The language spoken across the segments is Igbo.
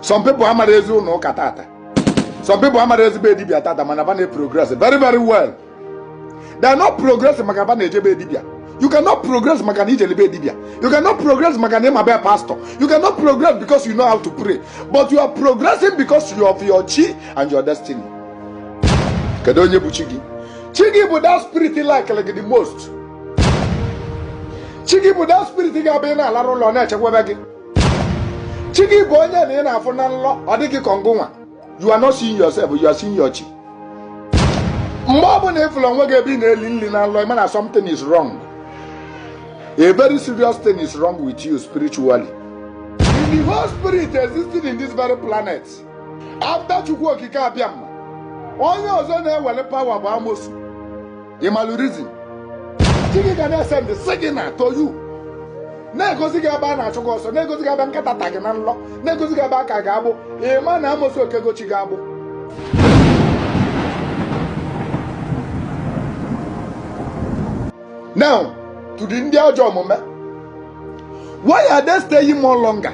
some people amarọ ezi ụlọ ụka tata some people amarọ ezi be dibia tata mana ba na-progress very very well they are not progress maka ba na-eje be dibia you cannot progress maka na i jele be dibia you cannot progress maka na ị ma be pastor you cannot progress because you know how to pray but you are progressing because you of your chi and your destiny kedu onye bụ chi gị chi gị bụ that spirit likelụ gị the most chi gị bụ that spirit ga-abụ ị na-alarụ ụla ọ na-echekwebe gị chi gị bụ onye na ị na-afụ na nlọ ọ dị gị ka ọ ngị nwa you are not seeing yourself you are seeing your chi mgbe ọ bụla ị fụlụ onwe gị ebe ị na-eli nli na nlọ ị ma na something is wrong a very serious thing is wrong with you spiritually in the whole spirit existing in this very planet after Chukwu Okike Abịama onye ọzọ nwelu power bụ amosu ị malụ reason chi gị ga na-esend signal to you na-egosi gị ebe a na-achụ gị ọsọ na-egosi gị ebe nkịta ta gị na nlọ na-egosi gị ebe e ke gị agbụ ị ma na amosu ekego chi gị agbụ now to the ndị ajọ omume why are they staying more longer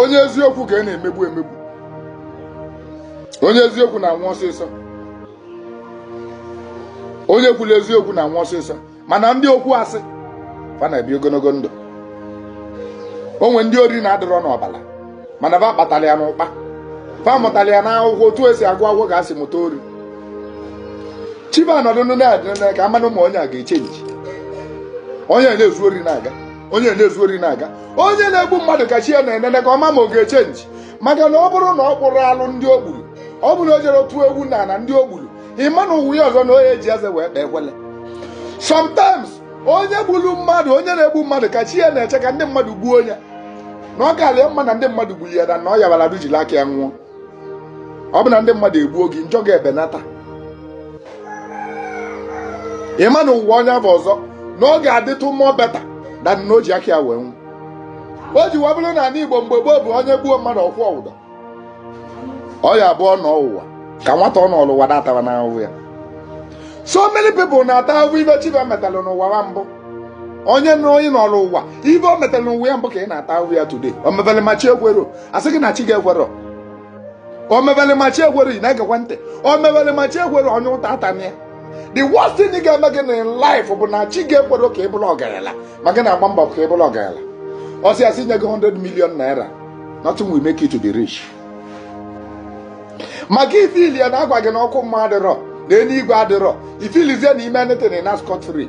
onye eziokwu ka a na-emegbu emegbu onye eziokwu na-anwụ ọsịsọ onye kwuru eziokwu na-anwụ ọsịsọ mana ndị okwu asị fa na-ebi ogologo ndụ o nwe ndị ori na-adịrọ n'ọbala mana fa kpatara ya n'ụkpa fa mụtara ya n'akwụkwọ otu e si agụ akwụkwọ ka e si mụta ori chi ba anọdụ na-edi na-ene ka a manụ ma onye a ga-echenji onye na-ezu ori na-aga onye na-ezu ori na-aga onye na-egbu mmadụ ka chi ya na-enene ka ọ ma ma ọ ga-echenji maka na ọ bụrụ na ọ kpụrụ alụ ndị o gburu ọ bụrụ na o jere tụọ egwu na na ndị o gburu ị ma na ụwa ya ọzọ na ọ ya-eji eze wee kpee ekwele sometimes onye gburu mmadụ onye na-egbu mmadụ ka chi ya na-eche ka ndị mmadụ gbuo onye na ọ kalị ya mma na ndị mmadụ gburu ya na na ọ yabara du jiri aka ya nwụọ ọ bụ na ndị mmadụ egbuo gị njọ gị ebenata ị ma na ụwa onye avụ ọzọ na ọ ga-adịtụ more better than na o ji aka ya wee nwụ o ji wee bụlụ na anị Igbo mgbe gboo bụ onye gbuo mmadụ ọ kwụọ ụdọ ọ ya-abụ ọ nọọ ụwa ka nwata ọ nọlụ ụwa na-ataba ahụhụ ya so many people na-ata ahụhụ ive chi va metalụ n'ụwa wa mbụ onye na onye nọlụ ụwa ive o metalụ n'ụwa ya mbụ ka ọ na-ata ahụhụ ya today o mebere ma chi ekwerọ a sị gị na chi gị ekwerọ o mebere ma chi ekwerọ ị na-egekwa ntị o mebere ma chi ekwerọ onye ụta atana ya the worst thing ga-eme gị na life bụ na chi gị ekwerọ ka ị bụrụ ọgaranya ma gị na-agba mbọ ka ị bụrụ ọgaranya ọ sị a sị nye gị 100 million naira nothing will make you to be rich maka i feel ya na a gwa gị na ọkụ mmụọ adịrọ na eluigwe adịrọ i feelzie na i me anything na scot free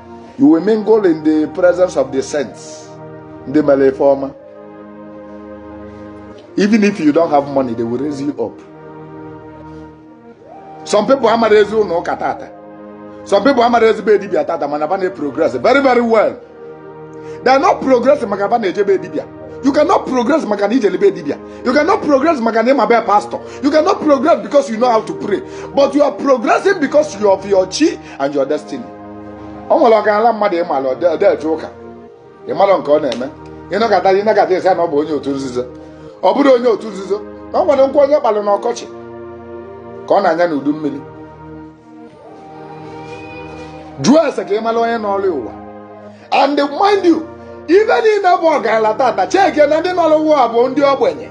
you will mingle in the presence of the saints ndị mere ife ọma even if you don't have money they will raise you up some people amara ezi ụlọ ụka tata some people amara ezigbo edibia tata mana ba na-progress very very well they are not progress maka ba na-ejebe edibia You cannot progress maka na ijelebe dibia. You cannot progress maka na ịmabe pastor. You cannot progress because you know how to pray. But you are progressing because you of your chi and your destiny. o nwere ọgaranya mmadụ ịmala ọ dị eje ụka ịmala nke ọ na-eme ị nọkata ị nọkata asị na ọ bụ onye otu nzuzo ọ bụrọ onye otu nzuzo na ọ nwere nkụ onye kpalụ n'ọkọchị ka ọ na-anya n'udu mmiri jụọ ese ka ịmala onye nọlụ ụwa and mind you ife niile bụ ọgaranya tata cheke na ndị nọrọ ha ụwa bụ ndị ogbenye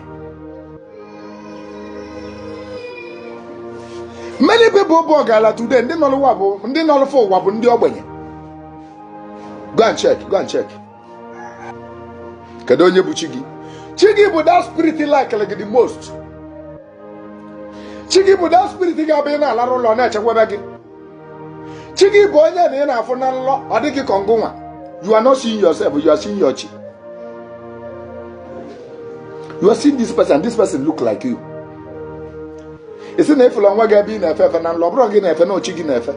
many people bụ ọgaranya today ndị nọrọ ụwa bụ ndị nọrọ fa ụwa bụ ndị ogbenye go and check go and check kedu onye bụ chi gị chi gị bụ that spirit likelụ gị the most chi gị bụ that spirit ga-abụ ị na-alarụ ụla ọ na-echekwaba gị chi gị bụ onye na ị na-afụ na nlọ ọ dị ka ngịnwa you are not seeing yourself you are seeing your chi you are seeing this person this person look like you ị sị na ị fụlụ onwe gị ebe ị na-efe efe na nlọ ọ bụrọ gị na-efe na ọ chi gị na-efe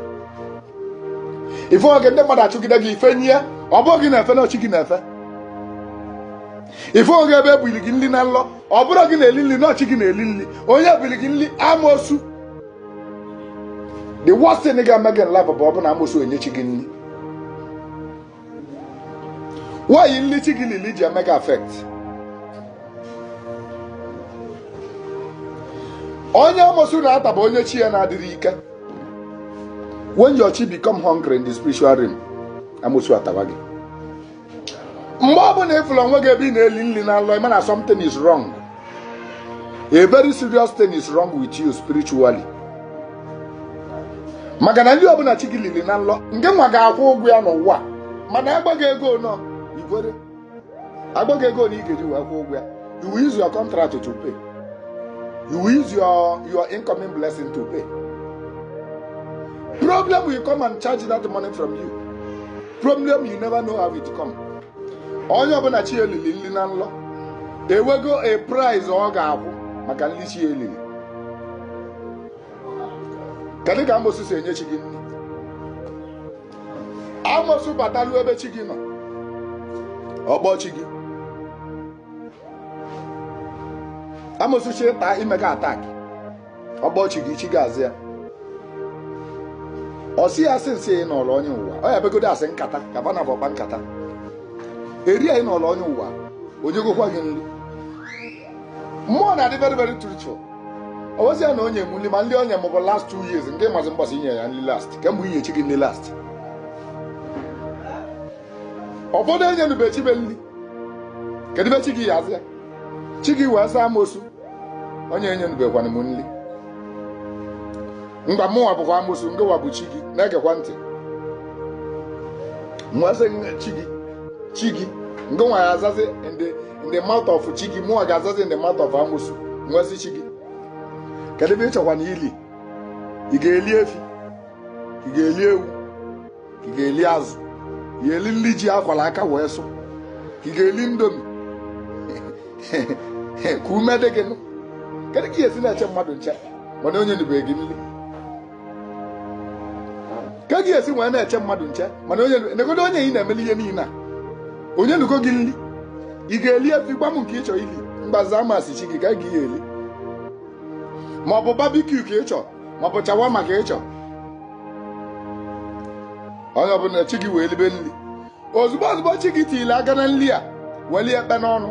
ị fụ onwe gị ndị mmadụ achụgide gị i fenie ọ bụrọ gị na-efe na ọ chi gị na-efe ị fụ onwe gị ebe ebuli gị nri na nlọ ọ bụrọ gị na-eli nri na ọ chi gị na-eli nri onye ebuli gị nri amosu the worst thing ga-eme gị na life bụ ọ bụ na amosu enye chi gị nri why nli chi gị lili ji eme gị affect onye amosu na-ata bụ onye chi ya na-adịrọ ike when your chi become hungry in the spiritual realm amosu ataba gị mgbe ọ bụla ịfụrụ onwe gị ebe ị na-eli nri na nlọ ịma na something is wrong a very serious thing is wrong with you spiritually maka na nri ọbụla chi gị lili na nlọ ngịnwa ga-akwụ ụgwọ ya n'ụwa mana abụghị ego na i nwere abụghị ego na ị ga-eji wee kwụ ụgwọ ya you will use your contract to pay you will use your your incoming blessing to pay problem will come and charge that money from you problem you never know how it come onye ọbụla chi ya lili nri na nlọ enwego a price ọ ga-akwụ maka nri chi ya lili kedu ka amosu si enye chi gị nri amosu batalu ebe chi gị nọ ọ kpọọ chi gị amosu chọọ ịta ime gị attack ọ kpọọ chi gị chi gị aza ya ọ sị ya asị na ị nọrọ onye ụwa ọ ya begodo asị nkata ka bana bụ ọkpa nkata eri ya ị nọrọ onye ụwa onye gokwa gị nri mmụọ na-adị very very spiritual ọ wezi ya na onye m nri ma nri onye mụbụ last two years nke mazi mgbasa inye ya nri last kemgbe inye chi gị nri last ụfọdụ enye nube chi be nri kedu be chi gị ya azị ya chi gị wee saa amosu onye enyenubekwanụ m nri ngwa mụnwa bụkwa amosu ngịwa bụ chi gị na-egekwa ntị m asị chi gị chi gị ngịnwa ga-azazi in the mouth of chi gị mụnwa ga-azazi in the mouth of amosu m asị chi gị kedu ife ị chọkwanụ ili ị ga-eli efi ị ga-eli ewu ka ị ga-eli azụ ka ị ga-eli nri ji a kwara aka wee sụ ka ị ga-eli indomie ka ume dị gị nụ kedu ka ị ya-esi na-eche mmadụ nche mana o nyenubeghị gị nri ka ị ya-esi wee na-eche mmadụ nche mana onye negodu onye ị na-emeli ihe niile a o nyenugo gị nri ị ga-eli efi gwa m nke ị chọrọ ili mgbaza m asị chi gị ka ị ga eli ma ọ bụ barbecue ka ị chọrọ ma ọ bụ shawarma ka ị chọrọ onye ọbụla chi gị wee libe nri ozugbo ozugbo chi gị tiri aka na nri a welie ekpe n'ọnụ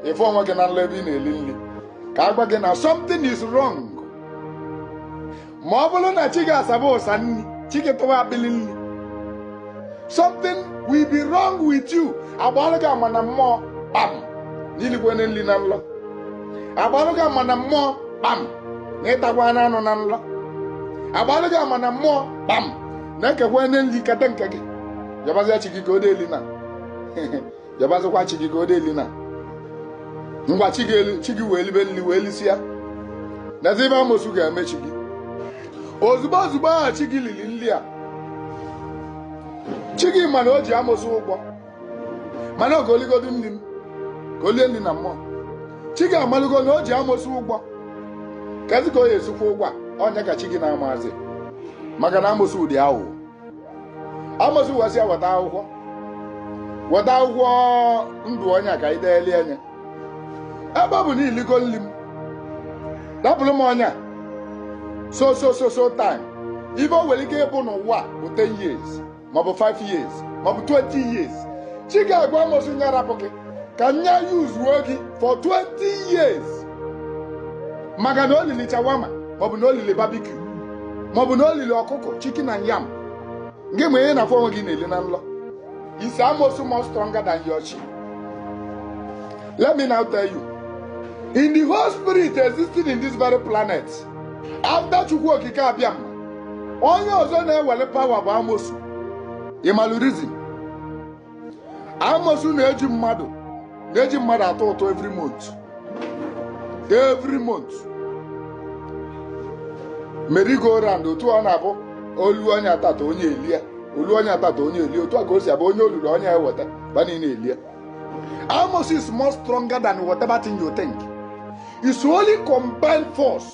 ị fụ onwe gị na nlọ ebe ị na-eli nri ka a gwa gị na something is wrong ma ọ bụrụ na chi gị asaba usa nri chi gị tụwa akpịlị nri something will be wrong with you a gbalụ gị ama na mmụọ kpam na ị likwenụ nri na nlọ a gbalụ gị ama na mmụọ kpam na ị takwanụ anụ na nlọ a gbalụ gị ama na mmụọ kpam na e kekwanụ nri keta nke gị yabazia chi gị ka o deli na yabazikwa chi gị ka o deli na ngwa chi gị elu- chi gị wee libe nri wee lisịa nezi ife amosu ga-eme chi gị ozugbo ozugbo ahụ chi gị liri nri a chi gị ma na o ji amosu ụgwọ mana ka o ligodu nri m ka o lie nri na mmụọ chi gị amalugo na o ji amosu ụgwọ kezi ka ọ ya-esi kwụ ụgwọ a ọ nya ka chi gị na-amazi maka na amosu dị awụwọ amosu asị ya weta akwụkwọ weta akwụkwọ ndụ onye a ka anyị deeli onye a ebe ọ bụ na i ligo nri m rapụrụ m onye a so so so so time maybe o nwere ike ịbụ na ọ ya-abụ 10 years maọbụ 5 years maọbụ 20 years chi gị agwa amosu nya arapụ gị ka nya useuo gị for 20 years maka na o lili shawarma maọbụ na o lili barbecue maọbụ na o lili ọkụkọ chicken and yam gị ma ihe ị na-afụ onwe gị na-eli na nlọ is amosu more stronger than your chi let me now tell you in the whole spirit existing in this very planet after chukwu okike abịama onye ọzọ na-ewere power bụ amosu ị malụ reason amosu na-eji mmadụ na-eji mmadụ atụ ụtụ every month every month merry go round otu ọ na-abụ o lu onye atata onye elie o lu onye atata onye elie otu a ka o si abụ onye o lulu onye eweta ba niile elie amosu is more stronger than whatever thing you think it's only combined force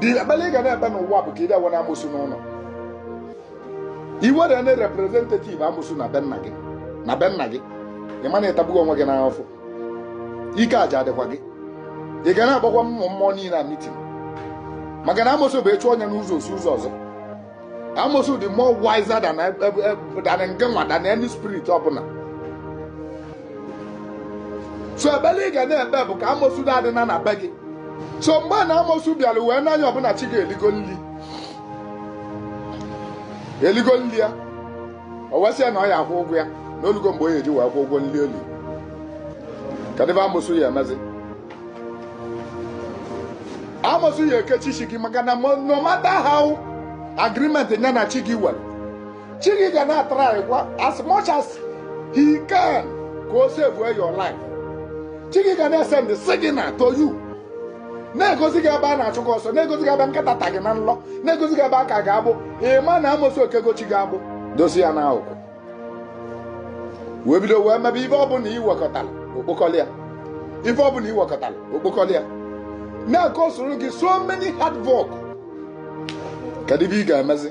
dị ekpere ị ga na-ekpe n'ụwa bụ ka ị da wena amosu n'ụlọ i were ndị representative amosu na be nna gị na be nna gị ị ma na ị tagbugo onwe gị n'afụfụ ike aja adịkwa gị ị ga na-agbakwa mmụọ mmụọ niile na meeting maka na amosu bụ ị chụọ ya n'ụzọ o si ụzọ ọzọ amosu dị more wiser than e- e- e- than gịnwa than any spirit ọbụla so ekpele ị ga na-ekpe bụ ka amosu da adịna na be gị so mgbe na amosu bịara wee n'anya ọbụla chi gị eligo nri eligo nri ya o wee sị ya na ọ ya akwụ ụgwọ ya na o lugo mgbe o ya eji wee kwụ ụgwọ nri o li kedụ ife amosu ya emezi amosu ya ekechi chi gị maka na no matter how agreement ya na chi gị were chi gị ga na-atry kwa as much as he can ka o save your life chi gị ga na-esend signal to you na-egosi gị ebe a na-achụ gị ọsọ na-egosi gị ebe nkịta ta gị na nlọ na-egosi gị ebe e ke gị agbụ ị ma na amosu ekego chi gị agbụ dozi ya n'akụkụ wee bido wee mebe ife ọbụla i wekọtara o kpokọrọ ya ife ọbụla i wekọtara o kpokọrọ ya n'aka o soro gị so many hard work kedu ife ị ga-emezi